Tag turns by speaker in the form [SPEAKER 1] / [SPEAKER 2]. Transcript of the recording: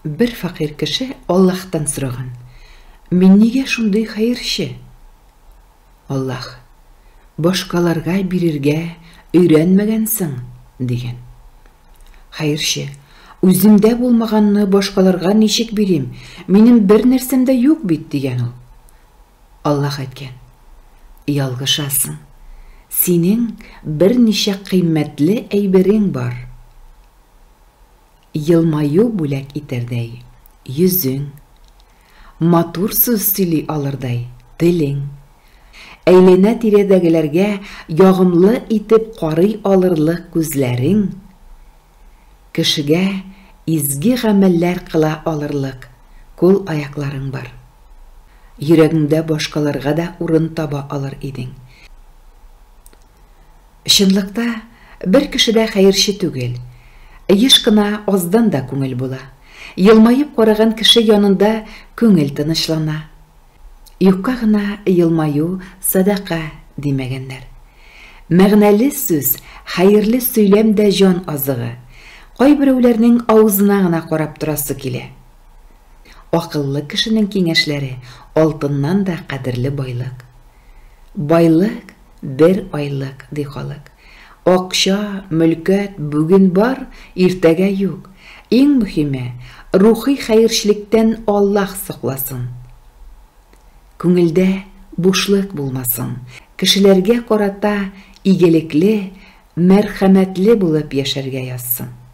[SPEAKER 1] Бер фәкыйрь кеше Аллаһтан сораган, Мин нигә шундый хәерче? Аллаһ, Башкаларга бирергә өйрәнмәгәнсең, дигән. Хәерче, Үземдә булмаганны башкаларга ничек бирим, минем бер нәрсәм дә юк бит, дигән ул. Аллаһ әйткән, Ялгышасың, синең берничә кыйммәтле әйберең бар. Елмаю бүләк итәрдәй йөзең, Матур сүз сөйли алырдай телең, Әйләнә-тирәдәгеләргә ягымлы итеп карый алырлык күзләрең, Кешегә изге гамәлләр кыла алырлык кул-аякларың бар. Йөрәгеңдә башкаларга да урын таба алыр идең. Чынлыкта, бер кеше дә хәерче түгел. Еш кына аздан да күңел була. Елмаеп караган кеше янында күңел тынычлана. Юкка гына елмаю, садака, димәгәннәр. Мәгънәле сүз, хәерле сөйләм дә җан азыгы. Кайберәүләрнең авызына гына карап торасы килә. Акыллы кешенең киңәшләре алтыннан да кадерле байлык. Байлык, бер айлык, ди халык. Акча, мөлкәт бүген бар, иртәгә юк. Иң мөхиме, рухи хәерчлектән Аллаһ сакласын. Күңелдә бушлык булмасын. Кешеләргә карата игелекле, мәрхәмәтле булып яшәргә язсын.